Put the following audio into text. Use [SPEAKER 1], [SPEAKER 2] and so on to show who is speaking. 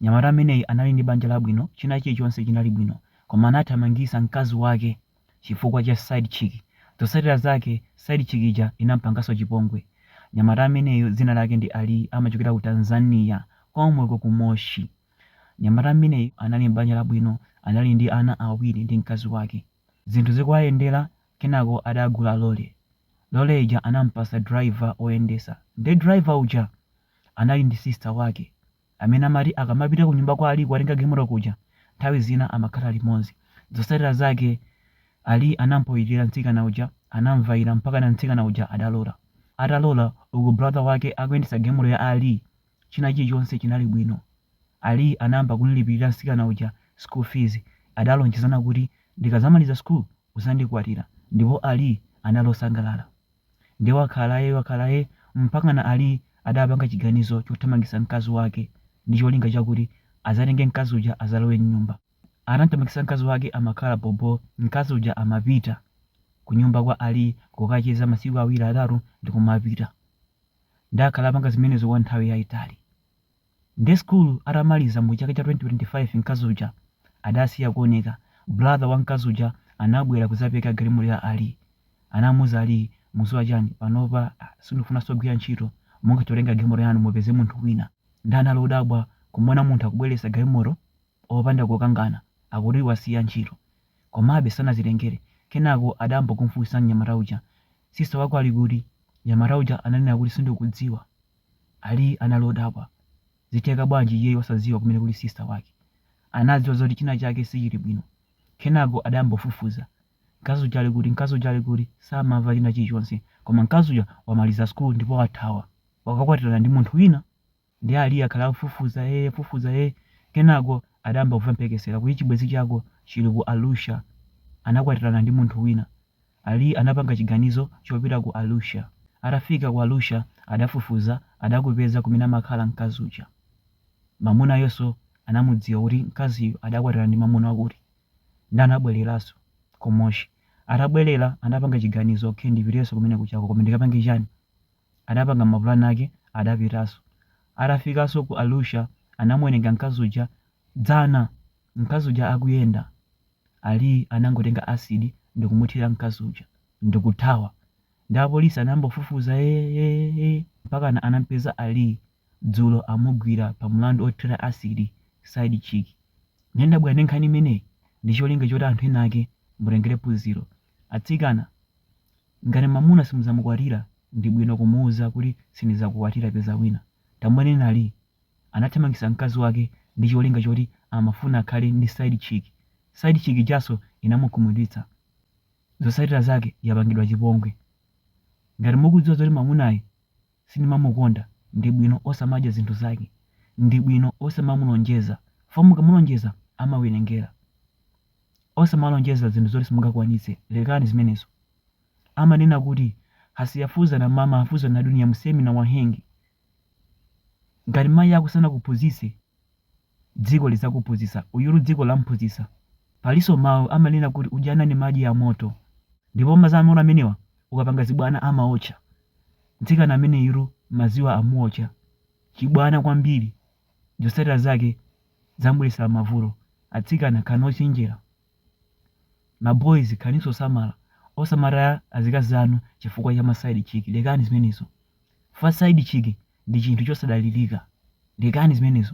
[SPEAKER 1] Mnyamata ameneyi anali ndi banja labwino china chilichonse chinali bwino koma anathamangitsa mkazi wake chifukwa cha side chick zotsatira zake side chick ija inampanganso chipongwe mnyamata ameneyu dzina lake ndi Ali amachokera ku Tanzania komweko ku Moshi mnyamata ameneyu anali m'banja labwino anali ndi ana awiri ndi mkazi wake zinthu zikuwayendela kenako adagula lole lole ija anampasa driver oyendesa nde driver uja anali ndi sister wake amene amati akamapita kunyumba kwa Ali kukatenga galimoto kuja, nthawi zina amakhala limodzi. Zotsatira zake Ali anampoila mtsikana uja, anamvaira mpakana mtsikana uja adalola. Atalola, uku brother wake akuyendetsa galimoto ya Ali, china chilichonse chinali bwino. Ali anayamba kumlipirira mtsikana uja school fees, adalonjezana kuti ndikadzamaliza school uzandikwatira ndipo Ali anali osangalala. Ndiye wakhala ee wakhala ee mpakana Ali adapanga chiganizo chothamangitsa mkazi wake ndi cholinga chakuti azatenge mkazi uja azalowe mnyumba. Atamthamangitsa mkazi wake amakhala bhobho mkazi uja amapita kunyumba kwa Ali kukacheza masiku awiri atatu ndikumapita. Ndiye akhala apanga zimenezo kwa nthawi yaitali. Nde school atamaliza mu chaka cha 2025 mkazi uja adasiya kuoneka, brother wa mkazi uja anabwera kuzapereka galimoto ya Ali. Anamuuza Ali mudziwa chani panopa sindikufunanso kugwira ntchito mungathe kutenga galimoto yanu mupeze munthu wina. Nde anali odabwa kumuona munthu akubweretsa galimoto opanda kukangana akuti wasiya ntchito. Komabe sanazitengere. Kenako adayamba kumufunsa mnyamata uja sister wako ali kuti? Mnyamata uja ananena kuti sindikudziwa. Ali anali odabwa. Zitheka bwanji iyeyu osadziwa kumene kuli sister wake. Anadziwa zoti china chake sichili bwino. Kenako adayamba kufufuza. Mkazi uja ali kuti, mkazi uja ali kuti? Samamva china chilichonse. Koma mkazi uja wamaliza school ndipo wathawa. Wakakwatirana ndi munthu wina. Ndiye Ali akhala akufufuza ee akufufuza ee. Kenako adayamba kumva mphekesera kuti chibwenzi chako chili ku Arusha. Anakwatirana ndi munthu wina. Ali anapanga chiganizo chopita ku Arusha. Atafika ku Arusha adafufuza adakupeza kumene amakhala mkazi uja. Mamuna uyonso anamudziwa kuti mkaziyu adakwatirana ndi mamuna wakuti. Nde anabwereranso ku Moshi. Atabwerera anapanga chiganizo ok ndipitenso kumene kujako koma ndikapange chani? Adapanga mapulani ake adapitanso. Atafikanso ku Arusha anamuwerenga mkazi uja. Dzana mkazi uja akuyenda Ali anangotenga acid ndikumuthira mkazi uja ndikuthawa nde apolisi anayamba kufufuza eeh mpakana anampeza Ali dzulo amugwira pa mlandu othira acid side chick nde ndabwera ndi nkhani imeneyi ndicholinga choti anthu ena ake mutengere phunziro atsikana ngati mamuna simuzamukwatira ndibwino kumuuza kuti sindizakukwatira peza wina tamuoneni Ali anathamangitsa mkazi wake ndicholinga choti amafuna akhale ndi side chick, side chick ijanso inamukhumudwitsa, zotsatila zake yapangidwa chipongwe. Ngati mukudziwa zoti mamunayi sindimamukonda ndibwino osamadya zinthu zake, ndibwino osamamulonjeza chifukwa mukamulonjeza amawelengela. Osamalonjeza zinthu zoti simungakwanitse lekani zimenezo. Amanena kuti asiyefunzwa na mama hufunzwa na dunia msemi na wahenga. ngati mayi ako sanakuphunzitse dziko lizakuphunzitsa uyulu dziko lamphunzitsa palinso mau amanena kuti ujana ni maji ya moto ndipo madzi amoto amenewa ukapanga zibwana amaotcha mtsikana ameneyuru madziwa amuotcha chibwana kwambiri zotsatira zake zamubweretsera mavuto atsikana khalani ochenjera Ma boys khalaninso osamala osamataya azikazi anu chifukwa cha ma side chick lekani zimenezo chifukwa side chick ndi chinthu chosadalilika lekani zimenezo.